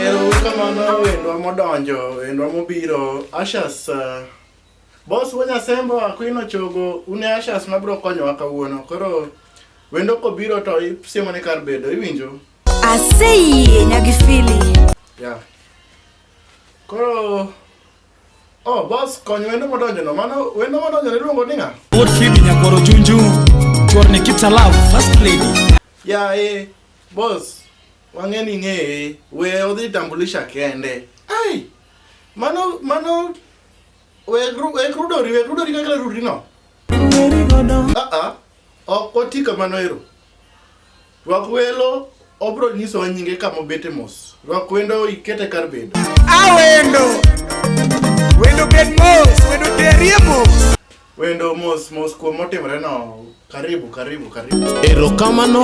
Erokamano wendwa modonjo, wendwa mobiro, Ashas. Uh, boss wanya sembo akwino chogo, une Ashas mabro konyowa kawuono. Koro wendo kobiro to isiemo ni kar bedo, iwinjo? Aseyie nyagifili. Yeah. Koro Oh, boss, kony wendo modonjo no. Mano wendo modonjo ni luongo ninga. Good feeling nyakoro chunju. Chorni keeps alive, first lady. Yeah, eh, boss. Wang'e ni ng'eye, we odhi tambulisha kende. Ai! Mano mano we gru we grudori we grudori kaka rudri no. Ng'eri godo. Ah ah. Ok oti kamano ero. Rwak welo obro nyiso wa nyinge kama obete mos. Rwak wendo ikete kar bedo. Awendo. Wendo get mos, wendo terie mos. Wendo mos mos kuom motimre no. Karibu karibu karibu. Erokamano.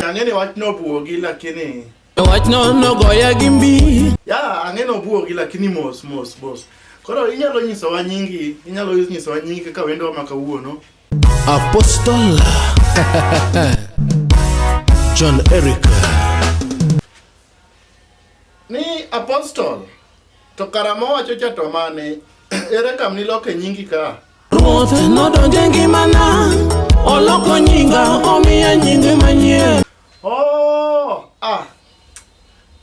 Ang'e ni wach no buogi lakini wach no nogoya gi mbi. Ya ang'e no buogi lakini mos mos mos. Koro inyalo nyiso wa nyingi, inyalo nyiso wa nyingi kaka wendo ma kawuono. Apostle John Eric. Ni apostol to kara mowacho cha to mane ere kam niloke nyingi ka Ruoth nodonjo e ngimana, oloko nyinga, omiya nyinge manyien. oh ah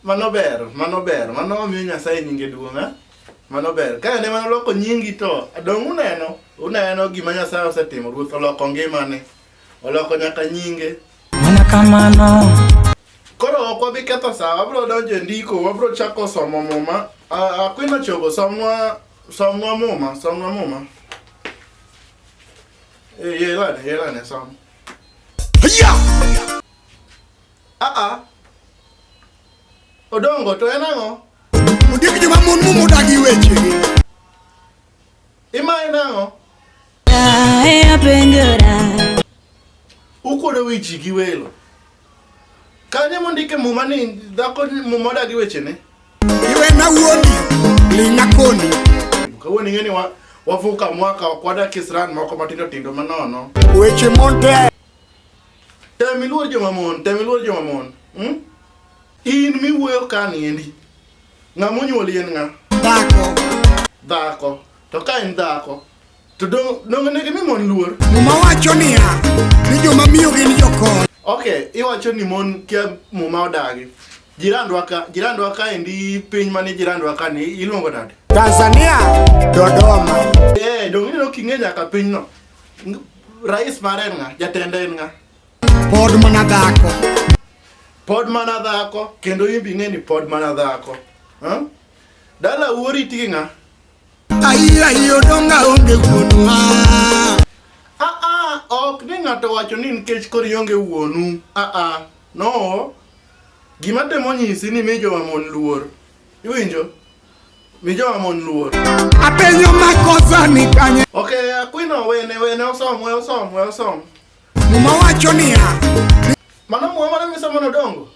mano ber mano ber mano omiyo nyasaye nyinge duong' ah. mano ber ka ne mano loko nyingi to dong' uneno uneno gima nyasaye osetimo ruoth oloko ngimane Oloko nyaka nyinge. Mana kamano. Koro ok wabi ketho saa, wabiro donjo e ndiko, wabiro chako somo muma. Ah, Akwino chogo, somnwa somnwa muma, somnwa muma. Eh, yelane, yelane som. Hiya! Ah ah. Odongo to en ang'o? Ondiek joma mon mumo odagi wechegi. Imaye nang'o? Ae apenjora. Ukuodo wi ji gi welo. Kanye mondike muma ni dhako ni- muma odagi wechene? iwe na wuodi ling'a koni Kawuono ing'e ni wa- wavuka mwaka ok wadak isran moko matindo tindo manono. weche monte Tem iluor joma mon, tem iluor joma mon. Hmm? In miwuoyo ka niendi. Ng'a monyuoli en ng'a? Dhako. Dhako. To ka en dhako, to dong' dong' onego imi mon luor. Muma wacho niya, ni joma miyo gin jokony. Okay, iwacho ni mon kia muma odagi. Jirandwa ka, jirandwa ka endi piny mane jirandwa ka ni iluongo nade? Tanzania, Dodoma. Eh, dong' ineno king'e nyaka pinyno. Ng- Rais mare en ng'a? Jatende en ng'a? Pod mana dhako. Pod mana dhako kendo imbi ing'e ni pod mana dhako. Huh? Dala uori tigi ng'a? Ayiyo ayiyo donga onge wuonwa. Ah ah, ok ni ng'ato wacho ni nikech koro ionge wuonu. Ah ah, no. Gima temo nyisi ni mi joma mon luor. Iwinjo? Mi joma mon luor. Apenyo makosa ni kanye. Okay, akwino wene wene osom, we osom, we osom. Muma wacho niya. Mano muma mane misomo nodongo?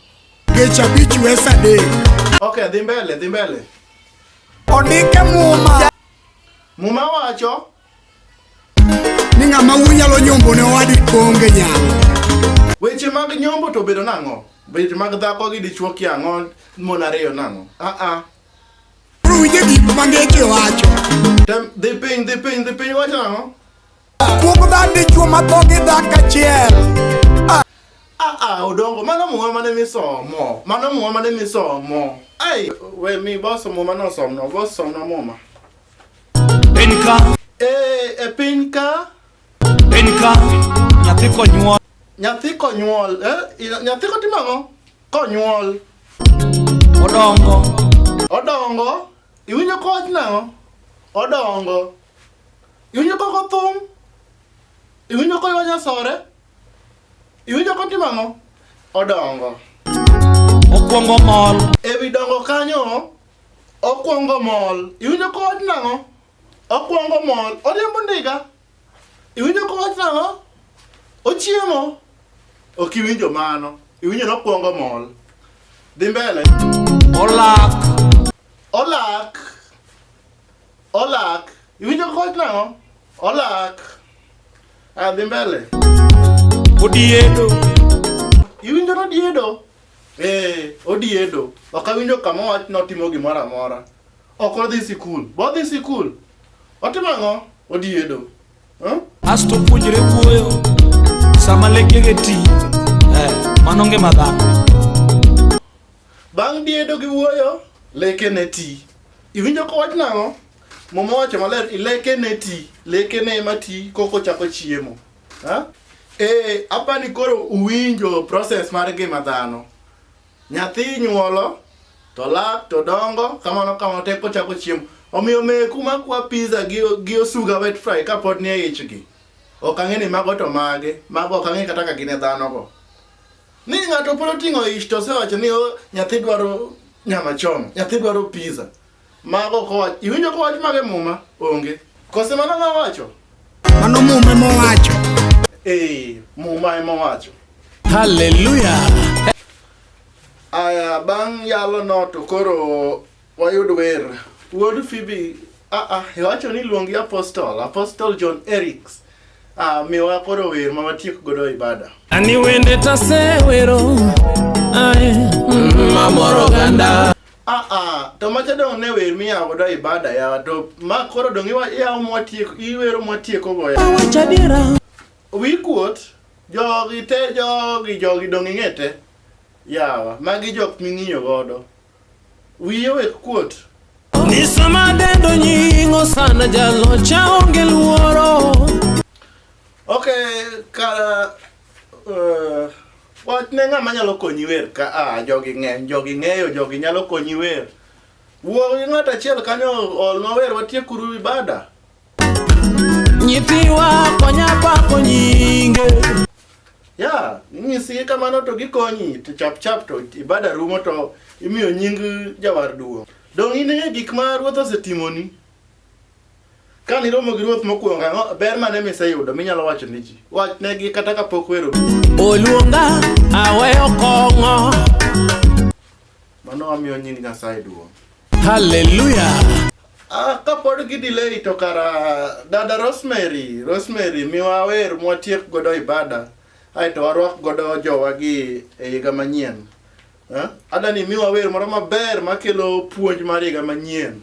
Gecha bich wesa de. Okay, dhi mbele, dhi mbele. Ondike muma. Muma wacho. Ni ng'ama wunyalo nyombo ne owadi konge nyalo. Weche mag nyombo to bedo nang'o? Weche mag dhako gi dichuo kia ang'o mon ariyo nang'o? Ah ah. Ruwije gik ma ngeche wacho. Tem, dhi piny, dhi piny, dhi piny wacho nang'o? Ah, odongo mano muma mane misomo mano muma mane misomo ai we mi boso muma nosomno bosomna muma Penka, e, e piny ka penka, nyathi konyuol. nyathi konyuol eh? i- nyathi kotimo ang'o konyuol Odongo, odongo iwinjo kowach nang'o odongo Iwinjo koko thum? Iwinjo koywa nyasore? Iwinjo kotimo ang'o? Odongo. Okwongo mol. E wi dongo kanyo, okwongo mol. Iwinjo kowach nang'o? Okwongo mol. Oriembo ndiga. Iwinjo kowach nang'o? Ochiemo. Ok iwinjo mano. Iwinjo ni okwongo mol. Dhi mbele. Olak. Olak. Olak. Iwinjo kaka owacho nang'o? Olak. Ah, dhi mbele. Odiedo. Iwinjo ni odiedo? Eh, odiedo. Ok awinjo kama owach ni otimo gimoro amora. Ok odhi sikul. Be odhi sikul? Otimo ang'o? Odiedo. Huh? Asto puonjre wuoyo sama lekege ti. Eh, mano ngima dhano. Bang' diedo gi wuoyo, leke ne ti. Iwinjo ko wach nang'o? Muma wacho maler, leke ne ti. Leke ne ema ti koko chako chiemo. Ha? Eh, apa ni koro uwinjo process mar ngima dhano. Nyathi nyuolo, to lak, to dongo, kamano kamano tek kochako chiemo. Omiyo meku makwa pizza gi, gi osuga wet fry kapod nie ichgi. Ok ang'e ni mago to mage, mago ok ang'e kata ka gin e dhano go. Ni ng'ato pod oting'o ich to osewacho ni oh, nyathi dwaro nyama choma, nyathi dwaro pizza. Mago kowach, iwinjo kowach mage muma? Onge. Kose mano ma wacho? Mano muma ema owacho. Eh, muma ema owacho. Hallelujah. Aya bang' yalo no to koro Wayud wer. Wuod Phoebe, ah ah, iwacho ni luongi Apostle, Apostle John Erics. Ah, miwa koro wer ma watiek godo ibada. Ani wende tasewero ae mm, mamoro oganda Ah ah, to macha dong ne wer miyawo godo ibada yawa to ma koro dong iwa- iyawo mwatieko, iwero mwatieko go yawa. awacho adiera Wi kuot, jogi te, jogi, jogi dong ing'e te. Yawa, magi jok ming'iyo godo. Wiye owek kuot. Ni sama dendo nying osana jalocha onge luoro. Ok, kara uh, wach ne ng'ama nyalo konyi wer ka a ah, jogi ng'eny jogi ng'eyo jogi nyalo konyi wer wuo gi ng'at achiel kanyo olnwa wer watiekuru ibada Nyithiwa konya pako nyinge. Ya, inyisi kamano to gikonyi to chap chap to ibada rumo to imiyo nying jawar duong'. Dong' in e gik ma ruoth osetimoni. Ka niromo gi ruoth mokwongo ang'o ber mane miseyudo minyalo wacho ni ji? Wachnegi kata kapok wero. Oluonga aweyo kong'o. Mano wamiyo nying Nyasaye duong'. Haleluya! Ah, kapod gi delay to kara dada Rosemary, Rosemary miwa wer mwatiek godo ibada aeto warwak godo jowa gi e higa manyien. Eh? Adani miwa wer moro maber makelo puonj mar higa manyien.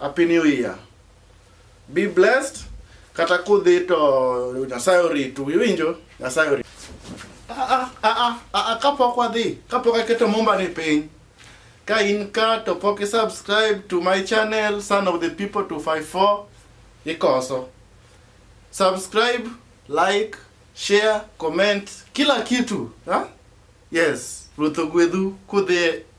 Happy New Year. Be blessed. Kata kudhi to Nyasaye oritu. Iwinjo? Nyasaye oritu. Ah, ah, ah, ah, kapok wadhi, kapok aketo mumba ni piny. Ka in ka to pok subscribe to my channel Son of the People 254 ikoso. Subscribe, like, share, comment, kila kitu. Ha? Yes, Ruth Ogwedhu kudhi